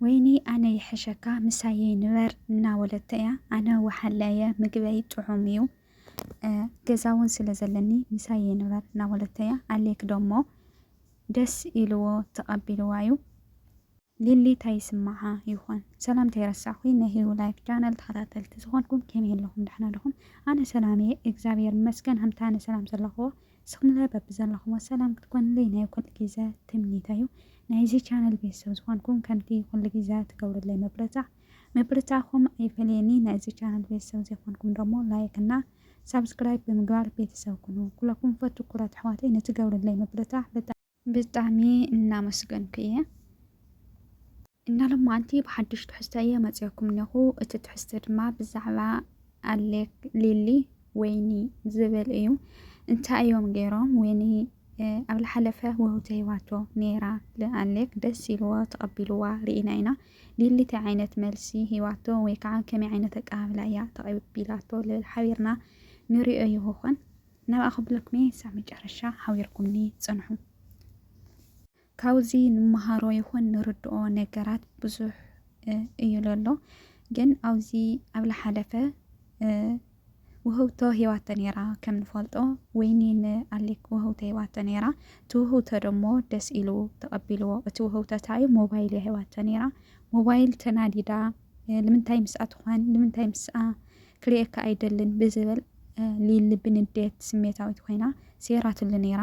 ወይኒ ኣነ ይሕሸካ ምሳየይ ንበር እናበለቶ እያ ኣነ ወሓለ እየ ምግበይ ጥዑም እዩ ገዛውን ስለ ዘለኒ ምሳየይ ንበር እናበለቶ እያ ኣሌክ ደሞ ደስ ኢልዎ ተቐቢልዋ እዩ ሊሊ ታይ ይስምዓ ይኾን ሰላም ተይረሳዕኩ ናይ ህዩ ላይፍ ቻነል ተኸታተልቲ ዝኾንኩም ከመይ ኣለኹም ደሕና ደኹም ኣነ ሰላም እየ እግዚኣብሔር ይመስገን ሃምታ ኣነ ሰላም ዘለኹዎ ንስኹምለ በብዘለኹሞ ሰላም ክትኮኑለይ ናይ ኩሉ ግዘ ትምኒተይ ዩ። ናይዚ ቻነል ቤተሰብ ዝኾንኩም ከምቲ ኩሉ ግዘ ትገብሩለይ ምብርጻዕ ምብርጻዕኹም ኣይፈለየኒ ናይዚ ቻነል ቤተሰብ ዘይኮንኩም ደሞ ላይክ እና ሳብስክራይብ ብምግባር ቤተሰብ ኩኑ። ኩለኩም ፈቱኩራት ኣሕዋተይ ንትገብሩለይ ምብርጻዕ ብጣዕሚ ብጣዕሚ እናመስገንኩ እየ። እና ሎማዓንቲ ብሓድሽ ትሕዝቶ እየ መፂኦኩም እኒኹ እቲ ትሕዝቶ ድማ ብዛዕባ ኣሌክ ሊሊ ወይኒ ዝብል እዩ። እንታይ እዮም ገይሮም ወይኒ ኣብ ዝሓለፈ ውህብቶ ሂባቶ ነይራ ንኣሌክ ደስ ኢልዎ ተቐቢልዋ ርኢና ኢና። ሊሊ እንታይ ዓይነት መልሲ ሂባቶ ወይ ከዓ ከመይ ዓይነት ኣቀባብላ እያ ተቐቢላቶ ልብል ሓቢርና ንሪኦ ይኾን። ናብኣ ክብለኩምየ ክሳብ መጨረሻ ሓቢርኩምኒ ጽንሑ። ካብዚ ንመሃሮ ይኹን ንርድኦ ነገራት ብዙሕ እዩ ለሎ ግን ኣብዚ ኣብ ለሓለፈ ውህውቶ ሂባቶ ነይራ ከም ንፈልጦ ወይኒ ንኣሌክ ውህውቶ ሂባቶ ነይራ እቲ ውህውቶ ደሞ ደስ ኢሉ ተቐቢልዎ እቲ ውህውቶ እንታይ እዩ ሞባይል እያ ሂባቶ ነይራ ሞባይል ተናዲዳ ንምንታይ ምስኣ ትኾን ንምንታይ ምስኣ ክርእየካ ኣይደልን ብዝብል ሊሊ ብንዴት ስሜታዊት ኮይና ሴራትሉ ነይራ።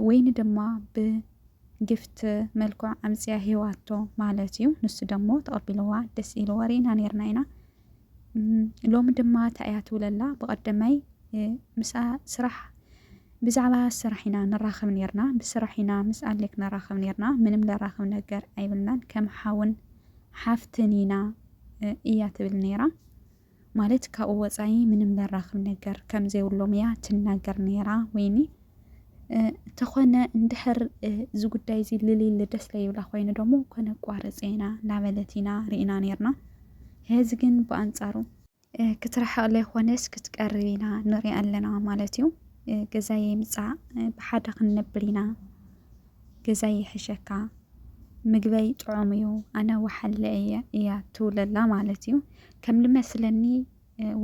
ወይኒ ድማ ብግፍት መልክዑ ኣምፅያ ሂባቶ ማለት እዩ። ንሱ ደሞ ተቐቢልዋ ደስ ኢልዎ ርኢና ነይርና ኢና። ሎሚ ድማ እንታይ እያ ትብለላ ብቐደማይ ምስኣ ስራሕ ብዛዕባ ስራሕ ኢና ንራኸብ ነይርና ብስራሕ ኢና ምስ ኣሌክ ንራኸብ ነይርና ምንም ለራኸብ ነገር ኣይብልናን ከም ሓውን ሓፍትን ኢና እያ ትብል ነይራ። ማለት ካብኡ ወፃኢ ምንም ዘራኽብ ነገር ከም ዘይብሎም እያ ትናገር ነይራ ወይኒ ተኾነ እንድሕር እዚ ጉዳይ እዚ ልልል ደስ ለይብላ ኮይኑ ደሞ ኮነ ቋረፅ ኢና ላበለት ኢና ርኢና ነርና። ሄዚ ግን ብኣንፃሩ ክትርሕቕ ዘይኮነስ ክትቀርብ ኢና ንሪኣ ኣለና ማለት እዩ። ገዛየ ምፃእ ብሓደ ክንነብር ኢና ገዛይ ይሕሸካ ምግበይ ጥዑም እዩ ኣነ ወሓለ እየ እያ ትብለላ ማለት እዩ ከም ልመስለኒ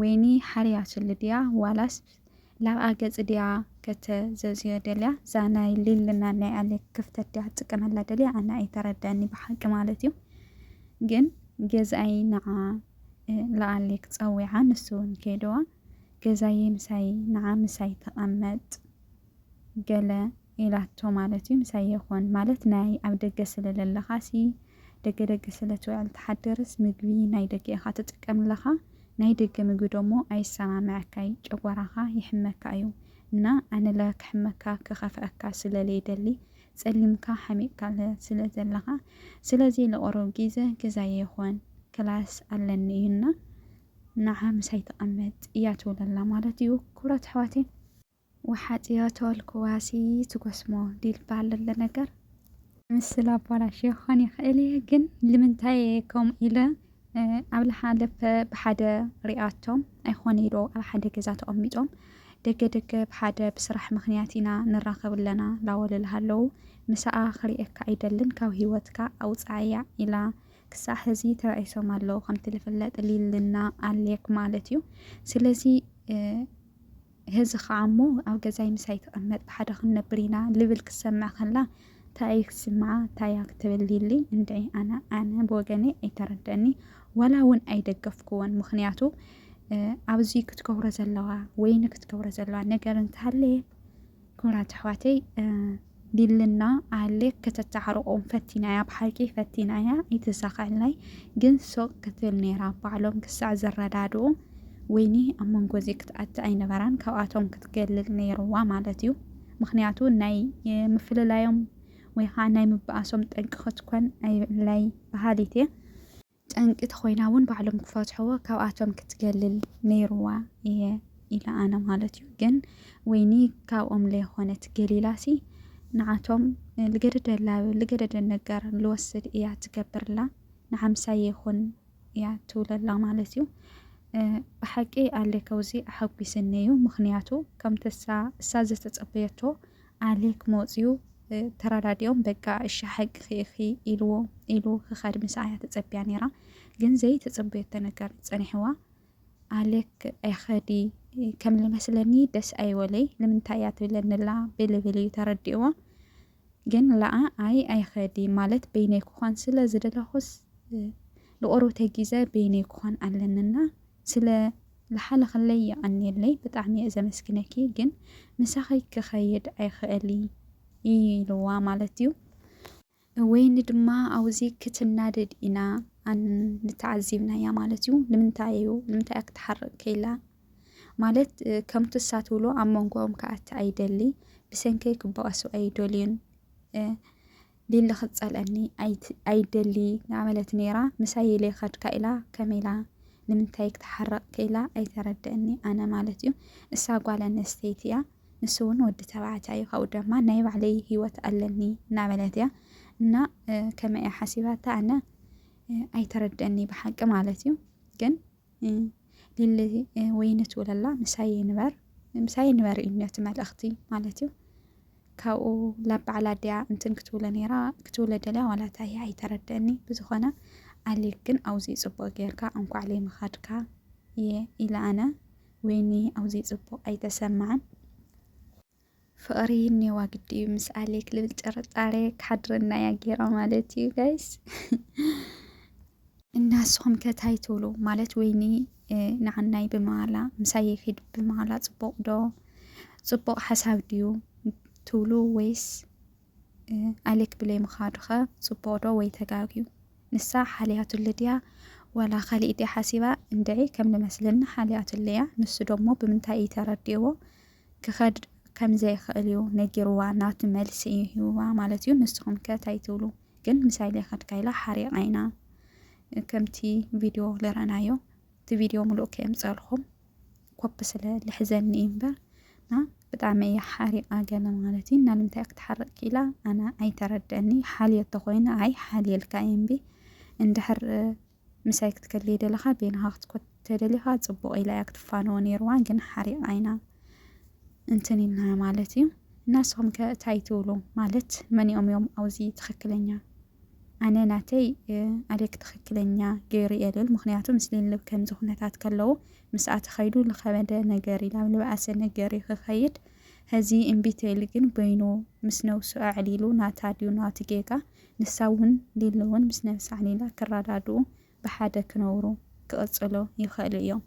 ወይኒ ሓርያ ስሊ ድያ ዋላስ ላብኣ ገጽ ድያ ከተዘዝዮ ደልያ እዛ ናይ ሊልና ናይ ኣሌክ ክፍተት ድያ ትጥቀመላ ደልያ ኣነ ኣይተረዳኒ ብሓቂ ማለት እዩ ግን ገዛይ ንዓ ለኣሌክ ጸዊዓ ንሱ እውን ከይድዋ ገዛዬ ምሳይ ንዓ ምሳይ ተቐመጥ ገለ ኢላቶ ማለት እዩ ምሳይ የኾን ማለት ናይ ኣብ ደገ ስለ ለለኻሲ ደገ ደገ ስለ ትውዕል ትሓድርስ ምግቢ ናይ ደገ ኢኻ ትጥቀም ኣለኻ ናይ ደገ ምግቢ ደሞ ኣይሰማምዐካይ ጨጎራኻ ይሕመካ እዩ እና ኣነለ ክሕመካ ክኸፍዐካ ስለ ለይደሊ ጸሊምካ ሓሚቕካለ ስለ ዘለኻ ስለዚ ለቆረብ ጊዘ ገዛይ የኾን ክላስ ኣለኒ እዩና ንዓ ምሳይ ተቐመጥ እያ ትብለላ ማለት እዩ ክብራት ኣሕዋተይ ወሓጥዮ ተወልኩዋሲ ትጎስሞ ዲል ባል እለ ነገር። ምስል ኣባላሽዮ ክኾን ይኽእል እየ ግን ልምንታይ እየ ከምኡ ኢለ ኣብ ልሓለፈ ብሓደ ሪኣቶም ኣይኾነይ ዶ ኣብ ሓደ ገዛ ተቐሚጦም ደገ ደገ ብሓደ ብስራሕ ምኽንያት ኢና ንራኸብ ኣለና ላወልልሃ ኣለው ምሳኣ ክሪኤካ ኣይደልን ካብ ሂወትካ ኣውጻኣያ ኢላ ክሳዕ ሕዚ ተባኢሶም ኣለው ከምቲ ልፍለጥ ሊልና ኣሌክ ማለት እዩ ስለዚ ህዚ ኸኣ እሞ ኣብ ገዛይ ምሳይ ተቐመጥ ብሓደ ክንነብር ኢና ልብል ክትሰምዕ ከላ ታይ እይ ክትስምዓ ታይ እያ ክትብል ሊሊ እንድዒ ኣነ ኣነ ብወገነይ ኣይተረደእኒ ዋላ እውን ኣይደገፍኩዎን ምክንያቱ ኣብዚ ክትገብሮ ዘለዋ ወይኒ ክትገብሮ ዘለዋ ነገር እንተሃለየ ክቡራት ኣሕዋተይ ሊልና ኣለ ከተተዓርቆም ፈቲና እያ ብሓቂ ፈቲና እያ ኣይተሳኸዐልናይ ግን ሶቅ ክትብል ነይራ ባዕሎም ክሳዕ ዝረዳድኡ ወይኒ ኣብ መንጎ እዚ ክትኣቲ ኣይነበራን ካብኣቶም ክትገልል ነይርዋ ማለት እዩ ምክንያቱ ናይ ምፍልላዮም ወይ ከዓ ናይ ምበኣሶም ጠንቂ ክትኮን ኣይብላይ በሃሊት እየ ጠንቂ ተኾይና እውን ባዕሎም ክፈትሕዎ ካብኣቶም ክትገልል ነይርዋ እየ ኢለ ኣነ ማለት እዩ ግን ወይኒ ካብኦም ለይኾነት ገሊላሲ ንዓቶም ልገደደላ ልገደደ ነገር ልወስድ እያ ትገብርላ ንሓምሳይ ይኹን እያ ትብለላ ማለት እዩ ብሓቂ ኣሌከውዚ ኣሓጒስኒ እዩ ምክንያቱ ከምቲ እሳ እሳ ዝተጸበየቶ ኣሌክ መፂኡ ተረዳዲኦም በቃ እሺ ሓቅኺ ኢኺ ኢልዎ ኢሉ ክኸድ ምስኣ እያ ተፀቢያ ነይራ ግን ዘይተፀበየቶ ነገር እዩ ፀኒሕዋ ኣሌክ ኣይኸዲ ከም ልመስለኒ ደስ ኣይወለይ ንምንታይ እያ ትብለንላ ብልብል እዩ ተረዲእዋ ግን ለኣ ኣይ ኣይኸዲ ማለት በይነይ ክኾን ስለ ዝደለኹስ ንቆርብተይ ግዘ በይነይ ክኾን ኣለንና ስለ ልሓለኽለይ የቀንየለይ ብጣዕሚ እየ ዘመስግነኪ ግን ምሳኺ ክኸይድ ኣይኽእል እይ ኢልዋ ማለት እዩ ወይኒ ድማ ኣውዚ ክትናደድ ኢና ንተዓዚብናያ ማለት እዩ ንምንታይ እዩ ንምንታይ እያ ክትሓርቅ ከይላ ማለት ከምቱ እሳ ትብሎ ኣብ መንጎኦም ክኣቲ ኣይደሊ ብሰንከይ ክበቀሱ ኣይደልዩን ሊሊ ክትጸልኣኒ ኣይትደሊ እናበለት ነይራ ምሳይ ኢለ ከድካ ኢላ ከመይ ኢላ ንምንታይ ክትሓርቕ ክኢላ ኣይተረድእኒ ኣነ ማለት እዩ እሳ ጓል ኣንስተይቲ እያ ንሱ እውን ወዲ ተባዕታይ እዩ ካብኡ ድማ ናይ ባዕለይ ህይወት ኣለኒ እናበለት እያ እና ከመይ እያ ሓሲባታ ኣነ ኣይተረድእኒ ብሓቂ ማለት እዩ ግን ሊሊ ወይኒ ትውለላ ምሳይ ይንበር ምሳይ ይንበር እዩ ነቲ መልእኽቲ ማለት እዩ ካብኡ ላብ በዓል ኣዲያ እንትን ክትውለ ነይራ ክትውለ ደልያ ዋላ እንታይ እያ ኣይተረድአኒ ብዝኾነ ኣሌክ ግን ኣውዚ ፅቡቅ ጌርካ እንኳዕ ለይምኻድካ እየ ኢለ ኣነ ወይኒ ኣውዚ ፅቡቅ ኣይተሰማዕን ፍቅሪ ኔዋ ግዲ እዩ ምስ ኣሌክ ልብል ጥርጣሬ ክሓድረና እያ ጌራ ማለት እዩ ጋይስ እና ንስኹም ከ ታይ ትብሉ ማለት ወይኒ ንዓናይ ብምባላ ምሳይ ይኺድ ብምባላ ፅቡቅ ዶ ፅቡቅ ሓሳብ ድዩ ትብሉ ወይስ ኣሌክ ብለይ ምኻዱ ከ ፅቡቅ ዶ ወይ ተጋግዩ ንሳ ሓልያቱለ ድያ ዋላ ካሊእ ድያ ሓሲባ እንድዒ ከም ንመስለኒ ሓልያቱለ እያ ንሱ ደሞ ብምንታይ እዩ ተረዲእዎ ክኸድ ከም ዘይክእል እዩ ነጊርዋ ናቱ መልሲ እዩ ሂብዋ ማለት እዩ ንስኹም ከ ታይ ትብሉ ግን ምሳይ ዘይኸድካ ኢላ ሓሪቓ ኢና ከምቲ ቪድዮ ልረናዮ እቲ ቪድዮ ምሉእ ከየምፀልኹም ኮፒ ስለ ልሕዘኒ እዩ እምበር እና ብጣዕሚ እያ ሓሪቃ ገለ ማለት እዩ እና ንምንታይ ክትሓርቅ ኪኢላ ኣነ ኣይተረደኒ ሓልዮ ተኮይኑ ኣይ ሓልየልካ እየ እምቢ እንድሕር ምሳይ ክትከልይ ደለኻ ቤንኻ ክትኮት ተደሊኻ ጽቡቕ ኢላ እያ ክትፋነዎ ነይርዋ ግን ሓሪቓ ኢና እንትን ኢልና ማለት እዩ እና ንስኹም ከ እንታይ ትብሉ ማለት መኒኦም እዮም ኣውዚ ትኽክለኛ ኣነ ናተይ ኣደክ ትኽክለኛ ገይሩ እየ ልብል ምክንያቱ ምስ ልልብ ከምዚ ኩነታት ከለዉ ምስኣ ተኸይዱ ዝኸበደ ነገር ኢላ ልብኣሰ ነገር እዩ ክኸይድ ሕዚ እምቢተይል ግን በይኑ ምስ ነብሱ ኣዕሊሉ ናታ ድዩ ናቲ ጌጋ ንሳ'ውን ሊሊ'ውን ምስ ነብሳ ሊላ ክረዳድኡ ብሓደ ክነብሩ ክቕጽሉ ይኸእሉ እዮም።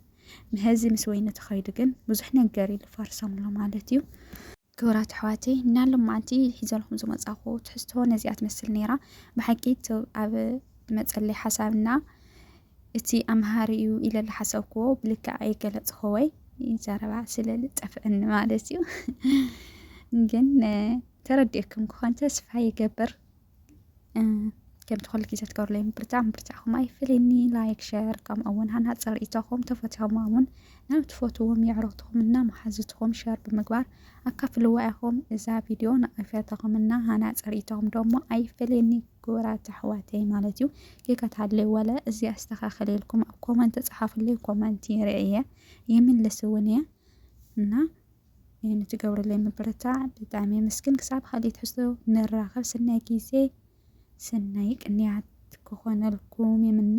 ምሀዚ ምስ ወይኒ ተኸይዱ ግን ብዙሕ ነገር እዩ ልፋርሶም ኣሎ ማለት እዩ። ክብራት ኣሕዋተይ እና ሎማዓንቲ ሒዘልኩም ዝመጻኹ ትሕዝቶ ነዚኣ ትመስል ነይራ ብሓቂ ቱብ ኣብ መጸለይ ሓሳብና እቲ ኣምሃሪ እዩ ኢለ ዝሓሰብክዎ ብልክዕ ኣይገለጽክዎይ ዘረባ ስለ ዝጠፍዐኒ ማለት እዩ ግን ተረዲእኩም ክኾን ተስፋ ይገብር ከምቲ ኩሉ ግዜ ትገብሩለይ ምብርታ ምብርታኹም ኣይፍልኒ ላይክ ሸር ከምኡ እውን ሃናፅ ርእይቶኹም ተፈትሖማ እውን ናብ ትፈትዎም የዕሩኽትኹም እና መሓዝትኹም ሸር ብምግባር ኣካፍልዋ ኢኹም እዛ ቪድዮ ንኣፈተኹም እና ሃናፅ ርእይቶኹም ደሞ ኣይፍልኒ ክቡራት ኣሕዋተይ ማለት እዩ ጌጋ ተሃልዩ ዋለ እዚ ኣስተካክል ኢልኩም ኣብ ኮመንት ጸሓፉለይ ኮመንት ይርእየ ይምልስ እውን እየ እና ንትገብሩለይ ምብርታዕ ብጣዕሚ የመስግን ክሳብ ካልእ ትሕዝቶ ንራኸብ ሰናይ ግዜ ሰናይ ቅንያት ክኾነልኩም ይምነ